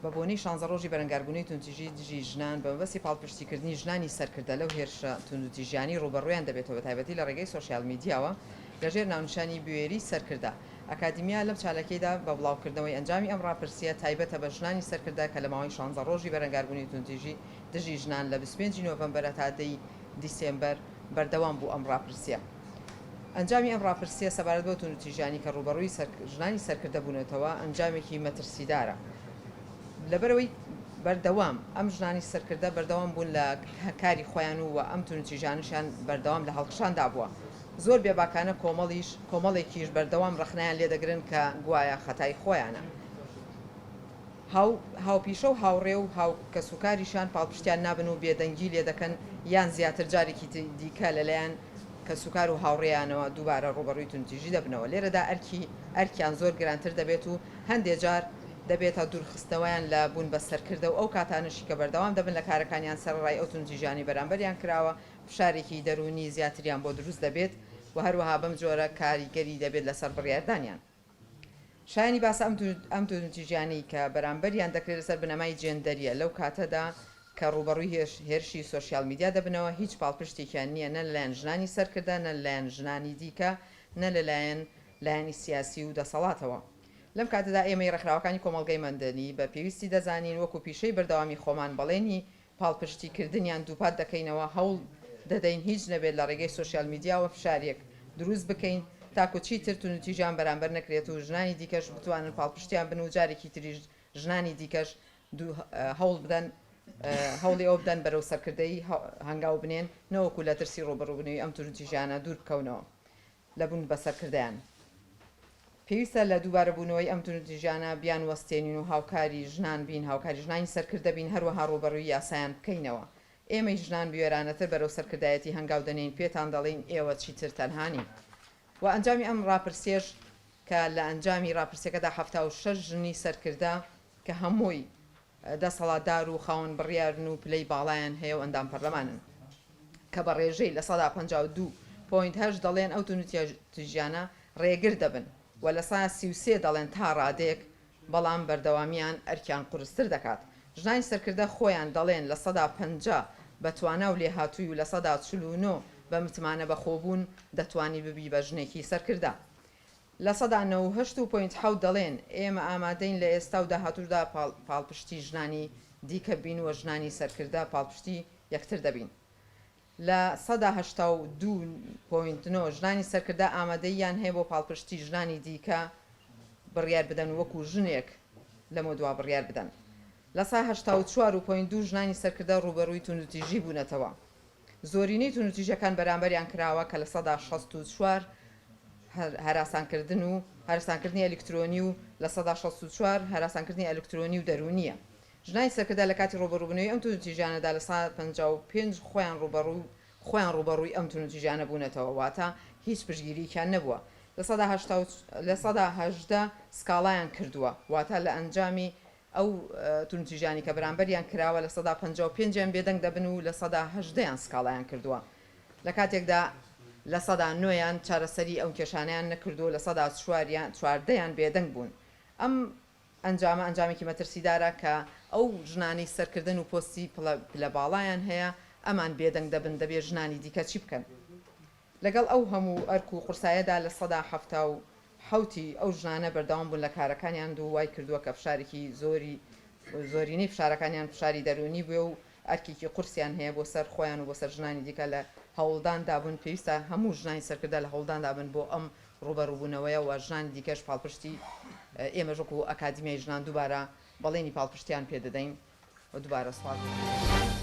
بە بۆنەی شانزە ڕۆژی بەرەنگاربوونەوەی توندتیژی دژی ژنان، بە مەبەستی پاڵپشتیکردنی ژنانی سەرکردە لەو هێرشە توندوتیژیانەی ڕووبەڕوویان دەبێتەوە بە تایبەتی لە ڕێگەی سۆشیال میدیاوە لەژێر ناونیشانی بوێریی سەرکردە، ئەکادیمیا لەم چالاکیەیدا بە بڵاوکردنەوەی ئەنجامی ئەم ڕاپرسییە تایبەتە بە ژنانی سەرکردە کە لە ماوەی شانزە ڕۆژی بەرەنگاربوونەوەی توندتیژی دژی ژنان لە بیست و پێنج ی نۆڤەمبەرە تا دە ی دیسێمبەر بەردەوام بوو ئەم ڕاپرسییە ئەنجامی ئەم ڕاپرسییە سەبارەت بەو توندوتیژیانەی کە ڕووبەڕووی ژنانی سەرکردە بوونەتەوە ئەنجامێکی مەترسیدارە لەبەرئەوەی بەردەوام ئەم ژنانی سەرکردە بەردەوام بوون لە کاری خۆیان و ئەم توندوتیژانەشیان بەردەوام لە هەڵکشاندا بووە زۆر بێباکانە کۆمەڵیش کۆمەڵێکیش بەردەوام ڕەخنەیان لێدەگرن کە گوایە خەتای خۆیانە. هاو هاوپیشە و هاوڕێ و هاو کەسوکاریشیان پاڵپشتیان نابن و بێدەنگی لێ دەکەن یان زیاتر جارێکی دیکە لەلایەن کەسوکار و هاوڕێیانەوە دووبارە ڕووبەڕووی توندتیژی دەبنەوە لێرەدا ئەرکی ئەرکیان زۆر گرانتر دەبێت و هەندێ جار دەبێتە دوورخستنەوەیان لە بوون بە سەرکردە و ئەو کاتانەشی کە بەردەوام دەبن لە کارەکانیان سەرەڕای ئەو توندتیژانەی بەرامبەریان کراوە فشارێکی دەروونی زیاتریان بۆ دروست دەبێت و هەروەها بەم جۆرە کاریگەری دەبێت لەسەر بڕیاردانیان. شایانی باسە ئەم دوو ئەم دوو نتیجانەی کە بەرامبەریان دەکرێت لەسەر بنەمای جێندەریە لەو کاتەدا کە ڕووبەڕووی هێرش هێرشی سۆشیال میدیا دەبنەوە هیچ پاڵپشتێکیان نییە نە لەلایەن ژنانی سەرکردە نە لەلایەن ژنانی دیکە نە لەلایەن لایەنی سیاسی و دەسەڵاتەوە لەم کاتەدا ئێمەی ڕێکخراوەکانی کۆمەڵگەی مەندەنی بە پێویستی دەزانین وەکو پیشەی بەردەوامی خۆمان بەڵێنی پاڵپشتیکردنیان دووپات دەکەینەوە، هەوڵ دەدەین هیچ نەبێت لە ڕێگەی سۆشیال میدیاوە فشاریەک دروست بکەین تاکو چیتر توندوتیژیان بەرامبەر نەکرێت و ژنانی دیکەش بتوانن پاڵپشتیان بن و جارێکی تریش ژنانی دیکەش هەوڵ بدەن هەوڵی ئەوە بدەن بەرەو سەرکردەیی هەنگاو بنێن نەوەکو لە ترسی ڕووبەڕووبونەوی ئەم توندوتیژیانە دوور بکەونەوە. لە بوون بە سەرکردەیان. پێویستە لە دووبارەبوونەوەی ئەم توندوتیژیانە بیانوەستێنین و هاوکاری ژنان بین، هاوکاری ژنانی سەرکردە بین، هەروەها ڕووبەڕووی یاسایان بکەینەوە. ئێمەی ژنان بوێرانەتر بەرەو سەرکردایەتی هەنگاو دەنێین، پێتان دەڵێین ئێوە چیتر تەنها نین. و ئەنجامی ئەم ڕاپرسیەش کە لە ئەنجامی ڕاپرسیەکەدا حەفتا و شەش ژنی سەرکردە کە هەمووی دەسەڵاتدار و خاوەن بڕیارن و پلەی باڵایان هەیە و ئەندام پەرلەمانن کە بە ڕێژەی لە سەدا پەنجا و دوو پۆینت هەشت دەڵێن ئەو توندوتیژیانە ڕێگر دەبن و لە سەدا سی و سێ دەڵێن تا ڕادەیەک بەڵام بەردەوامیان ئەرکیان قورستر دەکات ژنانی سەرکردە خۆیان دەڵێن لە سەدا پەنجا بە توانا و لێهاتووی و لە سەدا چل و نۆ بە متمانە بەخۆبوون دەتوانی ببی بە ژنێکی سەرکردە لە سەدا نەوە و هەشت و پۆینت حەوت دەڵێن، ئێمە ئامادەین لە ئێستا و داهاتووشدا پاڵپشتی ژنانی دیکە بین و ژنانی سەرکردە پاڵپشتی یەکتر دەبین. لە سەدا هەشتا و دوو پۆینت نۆ ژنانی سەرکردە ئامادەییان هەیە بۆ پاڵپشتی ژنانی دیکە بڕیار بدەن وەکو ژنێک لەمەودوا بڕیار بدەن. لە سا هەشتا و چوار و پۆینت دوو ژنانی سەرکردە ڕووبەڕووی توندوتیژی بوونەتەوە. زۆرینەی توندوتیژیەکان بەرامبەریان کراوە کە لە سەدا شەست و چوار هەراسانکردن و هەرسانکردنی ئەلیکترۆنی و لە سەدا شەست و چوار هەراسانکردنی ئەلیکترۆنی و دەرونیە ژنانی سەرکردە لە کاتی ڕوبەڕوبنەوەی ئەم توندوتیژیانەدا لە سەدا پەنجا و پێنج خۆیان ڕوبەڕوی خۆیان ڕوبەڕوی ئەم توندوتیژیانە بونەتەوە واتە هیچ پشتگیریەکیان نەبوە لە سەدا هەشتا و لە سەدا هەژدە سکاڵایان کردوە واتە لە ئەنجامی ئەو توندوتیژانەی کە بەرامبەریان کراوە لە سەدا پەنجا و پێنج یان بێدەنگ دەبن و لە سەدا هەژدە یان سکاڵایان کردووە لە کاتێکدا لە سەدا نۆ یان چارەسەری ئەو کێشانەیان نەکردووە لە سەدا چوار یان چواردە یان بێدەنگ بوون ئەم ئەنجامە ئەنجامێکی مەترسیدارە کە ئەو ژنانەی سەرکردەن و پۆستی پلە باڵایان هەیە ئەمان بێدەنگ دەبن دەبێ ژنانی دیکە چی بکەن؟ لەگەڵ ئەو هەموو ئەرک و قورسایەدا لە سەدا حەفتا و حەوتی ئەو ژنانە بەردەوام بوون لە کارەکانیان دو وای کردوە کە فشارێکی زۆری زۆرینەی فشارەکانیان فشاری دەروونی بوێ و ئەرکێکی قورسیان هەیە بۆ سەر خۆیان و بۆ سەر ژنانی دیکە لە هەوڵداندا بوون پێویستە هەموو ژنانی سەرکردە لە هەوڵداندا بن بۆ ئەم ڕوبەڕوبونەوەیە و ژنانی دیکەش پاڵپشتی ئێمەش وەکو ئەکادیمیای ژنان دوبارە بەڵێنی پاڵپشتیان پێ دەدەین و دوبارە سوپاس دەکەم.